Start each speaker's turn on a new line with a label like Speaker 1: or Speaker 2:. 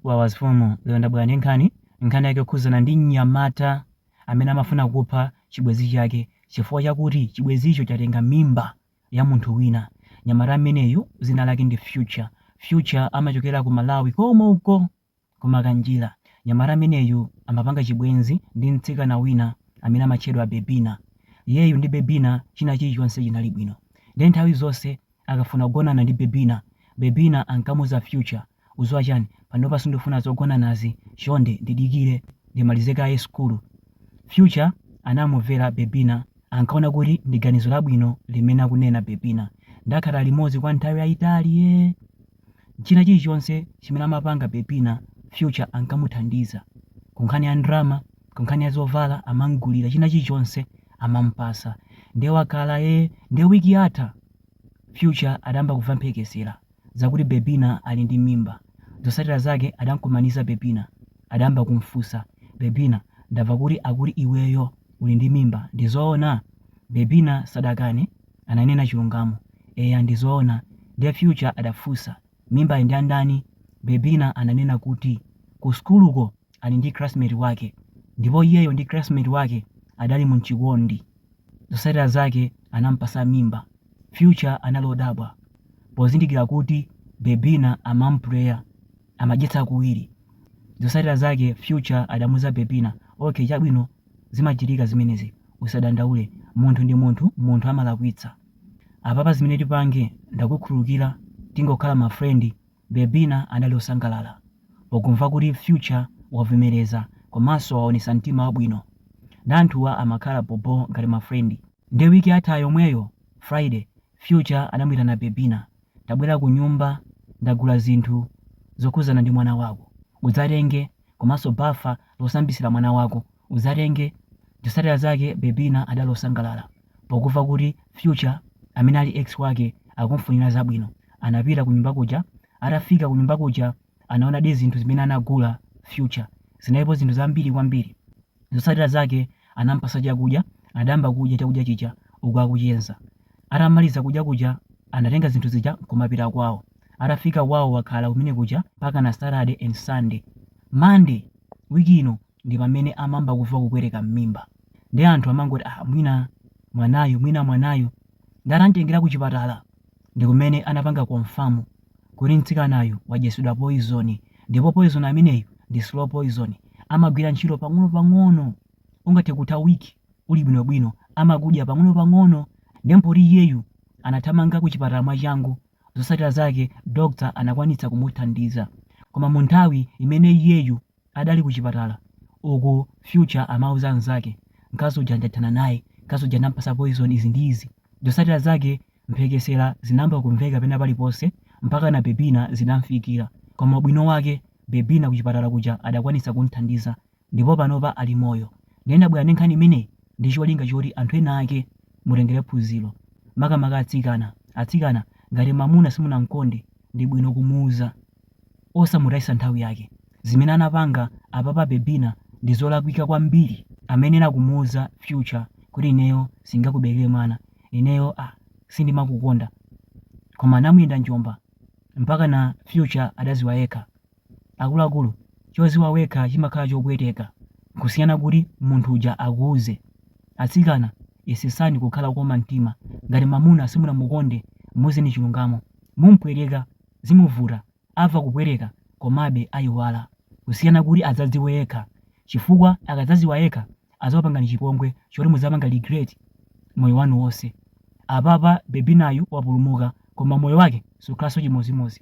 Speaker 1: Wawa zfumu lero ndabwera ndi nkhani, nkhani yake yokhudzana ndi mnyamata amene amafuna kupha chibwenzi chake chifukwa chakuti chibwenzicho chatenga mimba ya munthu wina. Mnyamata ameneyu dzina lake ndi Future. Future amachokera ku Malawi komweko ku Makanjira. Mnyamata ameneyu amapanga chibwenzi ndi mtsikana wina amene amatchedwa Bebina. Iyeyu ndi Bebina china chilichonse chinali bwino. Ndiye nthawi zonse akafuna kugonana ndi Bebina, Bebina ankamuuza Future, Udziwa chani, panopa sindifuna zogonanazi, chonde ndidikire ndimalize kaye sukulu. Future anamumvera Bebina, ankaona kuti ndi ganizo labwino limene akunena Bebina. Nde akhala limodzi kwa nthawi yayitali ee. china chilichonse chimene amapanga Bebina, Future ankamuthandiza. Kunkhani ya ndrama, kunkhani ya zovala amamgulira china chilichonse amampasa. Nde wakhala ee nde week yatha Future adayamba kuva mphekesera zakuti Bebina ali ndi mimba. Zosatira zake adamkumaniza Bebina. Adayamba kumfunsa Bebina ndava kuti akuti iweyo uli ndi mimba ndizoona? Bebina sadakane. Ananena chilungamo. Eya ndi zoona. Ndiye Future adafunsa, Mimbayi ndi ya ndani? Bebina ananena kuti ku sukuluko ali ndi classmate wake ndipo iyeyo ndi classmate wake adali mu m'chikondi. Zotsatira zake anamupatsa mimba. Future anali odabwa pozindikira kuti Bebina amamupreya. amadyetsa kuwiri. Zosatira zake Future adamuuza Bebina, okay chabwino zimachitika zimenezi usadandaule munthu ndi munthu munthu amalakwitsa. Apapa zimene tipange ndakukhululukira tingokhala ma friend Bebina adali osangalala pokumva kuti Future wavomereza komanso waonetsa mtima wabwino nde anthuwa amakhala bho bho ngati ma friend. Nde week yatha yomweyo Friday Future anamuitana Bebina, tabwera kunyumba ndagula zinthu zokhudzana ndi mwana wako. Udzatenge komanso bafa losambitsira mwana wako udzatenge. Zotsatira zake Bebina adali osangalala pokuva kuti Future amene ali ex wake akumfunira zabwino. Anapita kunyumba kuja, atafika kunyumba kuja anaonadi zinthu zimene anagula Future. Zinalipo zinthu zambiri kwambiri. Zotsatira zake anampatsa chakudya, adayamba kudya chakudya chija uku akucheza. Atamaliza kudya kuja anatenga zinthu zija nkumapita kwawo. Atafika kwawo wakhala kumene kuja mpakana Saturday and Sunday. Monday week ino ndi pamene amayamba kuva kupweteka mmimba. Nde anthu amangoti ah mwina mwanayu mwina mwanayu. Nde atamtengera kuchipatala. ndikumene anapanga confirm kuti mtsikanayu wadyetsedwa poison ndipo poison ameneyu ndi slow poison amagwira ntchito pang'ono pang'ono ungathe kutha week uli bwinobwino amakudya pang'ono pang'ono nde poti iyeyu anathamanga kuchipatala mwachangu zotsatira zake doctor anakwanitsa kumuthandiza koma munthawi imene iyeyu adali kuchipatala uku future amauza anzake mkazi uja ndathana naye, mkazi uja ndampasa poison izi ndi izi, zotsatira zake mphekesera zinayamba kumveka pena paliponse mpakana Bebina zinamfikira koma ubwino wake Bebina kuchipatala kuja adakwanitsa kumthandiza ndipo panopa ali moyo nde ndabwera ndi nkhani imeneyi ndi cholinga choti anthu ena ake mutengere phunziro makamaka atsikana, atsikana ngati mamuna simunamkonde ndi bwino kumuuza. osamutayitsa nthawi yake zimene anapanga apapa bebina ndizolakwika kwambiri amayenera kumuuza future kuti ineyo sindingakuberekere mwana ineyo ah sindimakukonda koma anamuyenda njomba mpaka na future adaziwa yekha akuluakulu choziwa wekha chimakhala chopweteka kusiyana kuti munthu uja akuuze atsikana yesesani kukhala okoma mtima ngati mamuna simunamukonde muuzeni chilungamo mumpweteka zimuvuta amva kupweteka komabe ayiwala kusiyana kuti adzadziwe yekha chifukwa akadzaziwa yekha azakupangani chipongwe choti muzapanga regret moyo wanu wonse apapa bebinayu wapulumuka koma moyo wake sukhalanso chimozimozi.